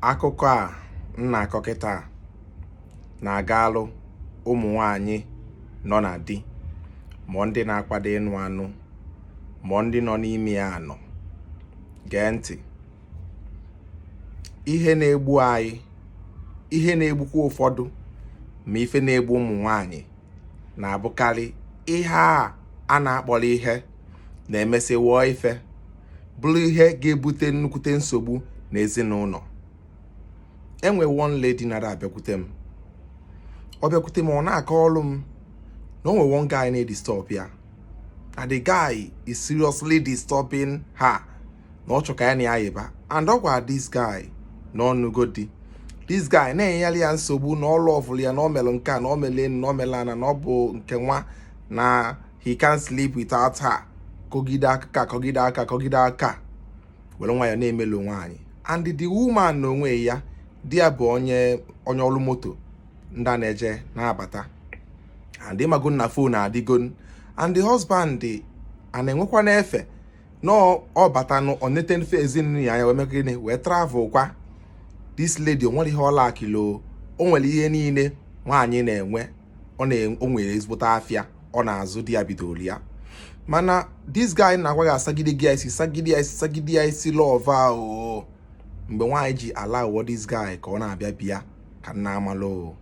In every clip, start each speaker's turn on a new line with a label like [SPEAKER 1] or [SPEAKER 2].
[SPEAKER 1] akụkọ a m na-akọ kịta na-agalụ ụmụ nwanyị nọ na di ma ndị na-akwado ịnụ anụ ma ndị nọ n'ime ya anọ gee ntị ihe na-egbu anyị ihe na-egbukwa ụfọdụ ma ife na-egbu ụmụ nwanyị na-abụkarị ihe a a na-akpọrọ ihe na-emesị wụọ ife bụrụ ihe ga-ebute nnukwute nsogbu na ezinụlọ e nwe one lady na-adị abịakwute m ọ bịakwute m ọ na-akọrụ m na o nwe one guy na-edisturb ya na the guy is seriously disturbing her na ọ chọ ka ya na ya yịba and ọ gwara this guy na ọ nụgo di this guy na-enyere ya nsogbu na ọ lọvụrụ ya na ọ melụ nke a na ọ mele na ọ mele ana na ọ bụ nke nwa na he can't sleep without her kọgide aka kọgide aka kọgide aka were nwayọ na-emelu nwaanyị and the woman n'onwe ya di ya bụ onye onye ọrụ moto ndị a na-eje na-abata and ị mago na fon adịgo and the husband a na-enwekwanụ efe na ọ batanụ ọ nete mfe ezinụlọ ya ya wee mee gịnị wee travel kwa this lady o nwerọ ihe ọ lackịlị o nwere ihe niile nwaanyị na-enwe ọ na-o nwere ezigbote afịa ọ na-azụ di ya bidooro ya mana this guy na-agwa gị asagide gị isi sagide isi sagide isi love ahụ mgbe nwaanyị ji allow this guy ka ọ na-abịa be ya ka nna amalụ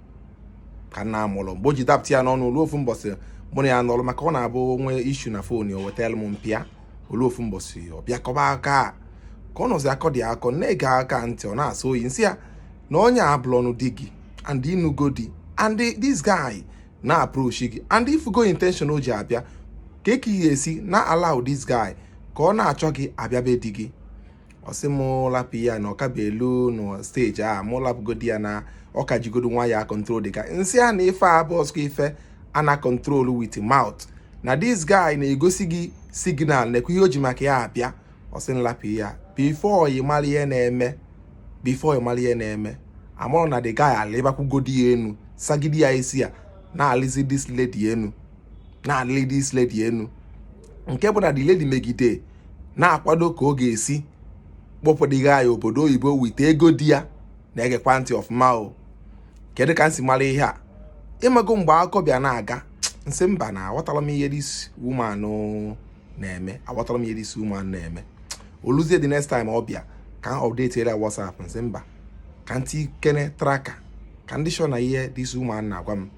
[SPEAKER 1] ka nna amalụ mgbe o ji dapụta ya n'ọnụ o lu ofu mbọsị mụ na ya nọlụ maka ọ na-abụ o nwee issue na fon ya wetara m m pịa o lu ofu mbọsị ọ bịa kọba akọ ka ọ nọzi akọ dị akọ na-ege ya ntị ọ na-asọ oyi m sị ya na onye abụlọnụ di gị and ị nụgo di and this guy na-approach gị and ị fụgo intention o ji abịa kee ka i si na-allow this guy ka ọ na-achọ gị abịa be di gị ọ sị m lapụ ya na ọ ka bụ elu na stage a mụ lapụgodi ya na ọ ka jigodi onwe ya control dị ka m sị ya na ife a abụzikwọ ife a na-control with mouth na this guy na-egosi gị signal na-ekwu ihe o ji maka ya abịa ọ sị m lapụ ya before ị mara ihe na-eme before ị mara ihe na-eme amarọ m na the guy alịbakwugodi ya enu sagide ya isi ya na-alịzi this lady enu na-alị this lady enu nke bụ na the lady megide na-akwado ka ọ ga-esi kpọpụ the guy obodo oyibo with ego di ya na-egekwa ntị ọfụma o kedu ka m si mara ihe a ị mago mgbe akụkọ bịa na-aga m sị mba na aghọtarọ m ihe this woman na-eme aghọtarọ m ihe this woman na-eme o luzie the next time ọ bịa ka m update ya WhatsApp m sị mba ka m tikene tracker ka m dị sure na ihe this woman na-agwa m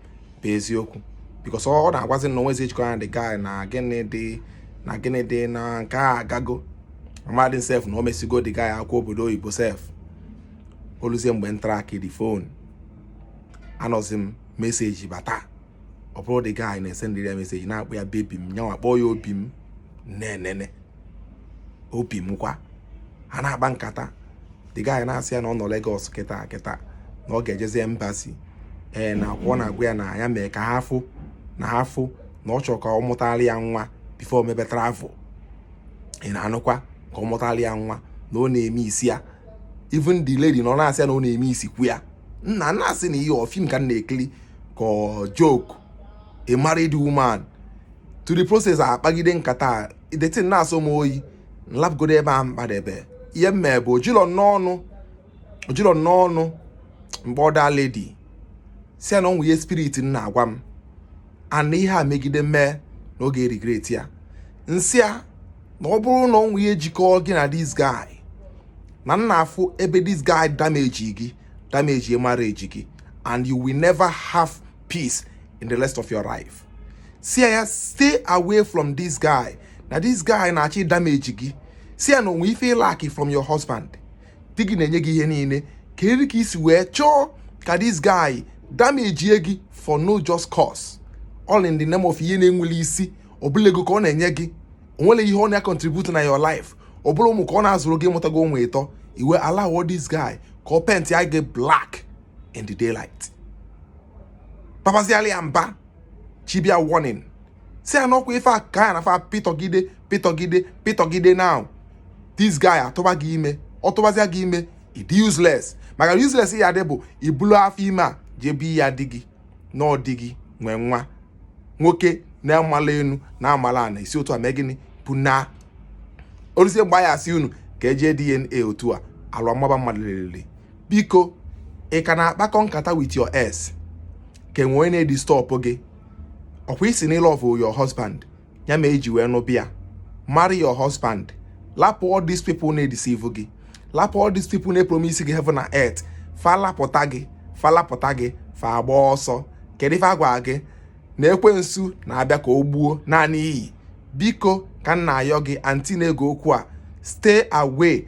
[SPEAKER 1] bụ eziokwu because ọ na-agwazi na o nwezi ihe jikọ ya na the guy na gịnị dị na gịnị dị na nke a agago mmadụ sef na o mesigo the guy akwụkwọ obodo oyibo sef o luzie mgbe m tracki the phone anọzi m message bata ọ bụrụ the guy na-esendịrị ya message na-akpọ ya baby m nyanwa kpọọ ya obi m na-enene obi m kwa ha na-akpa nkata the guy na-asị ya na ọ nọ Lagos kịta kịta na ọ ga-ejezi embassy ee na akwụkwọ na-agwa ya na ya mee ka ha fụ na ha fụ na ọ chọrọ ka ọ mụtara ya nwa before mebe travel ị na-anụkwa ka ọ mụtara ya nwa na ọ na-eme isi ya even the lady na ọ na-asị ya na ọ na-eme isikwu ya nna m na-asị na ihe ọ film ka m na-ekiri ka joke a married woman to the process akpagide nkata the thing na-asọ m oyi m lapụgodo ebe a mkpadebe ihe m mee bụ o jilọ m ọnụ o jilọ m ọnụ m kpọọ the lady si ya na o nwe ihe spirit m na-agwa m and ihe a megide mee na ọ ga-eregret ya m sị ya na ọ bụrụ na o nwe ihe jikọọ gị na this guy na m na-afụ ebe this guy damage gị damage marriage gị and you will never have peace in the rest of your life si ya stay away from this guy na this guy na-achọ damage gị si ya na o nwe ife ị lackị from your husband di gị na-enye gị ihe niile kedụ ka i si wee chọọ ka this guy damage gị for no just cause all in the name of ihe na-enwele isi ọ bụlọ ego ka ọ na-enye gị o nwere ihe ọ na-contribute na your life ọ bụlọ ụmụ ka ọ na-azụrụ gị ị mụtago ụmụ ịtọ i wee allow this guy ka ọ paintịa gị black in the daylight babaziala ya mba chibia warning si ya na ọkwa ife a ka ya na fa pitọgide pitọgide pitọgide now this guy atụba gị ime ọ tụbazia gị ime ị dị useless maka useless ị ya-adị bụ i bulu afọ ime a jebi ya di gị na ọ di gị nwe nwa nwoke na-amala enu na-amala ana i si otu a mee gịnị bụ na o luzie mgbe a ya-asị unu ka e jee DNA otu a alụ amaba mmadụ lelele biko ị ka na-akpakọ nkata with your ex ka e nwe onye na-edisturb gị ọkwa ị sị na ị love your husband ya mere i ji wee nụ bịa marry your husband lapụ all these people na-edeceive gị lapụ all these people na-epromise gị heaven na earth fa lapụta gị fa lapụta gị fa agba ọsọ kedu ife a gwa gị na ekwensu na-abịa ka o gbuo naa n'iyi biko ka m na-ayọ gị aunty na-ege okwu a stay away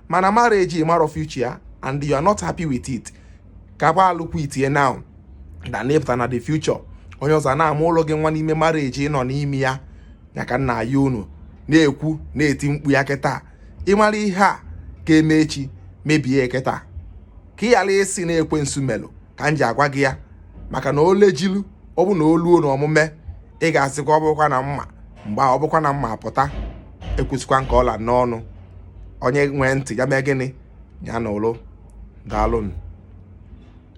[SPEAKER 1] mana marriage ị mara future ya and you are not happy with it ka gba alụkwu itinye now na ịpụta na the future onye ọzọ na-amụlụ gị nwa n'ime marriage ị nọ n'ime ya ya ka m na-ayọ unu na-ekwu na-eti mkpu ya kịta ị mara ihe a ga-eme echi mebie kịta ka ị ghara ịsị na ekwensu melụ ka m ji agwa gị ya maka na olejilu ọ bụ na o luo na omume ị ga-asịkwa ọ bụkwa na m ma mgbe ọ bụkwa na m ma pụta ekwusikwa nke ọla n'ọnụ onye nwee ntị ya mee gịnị ya nụlụ daalụnụ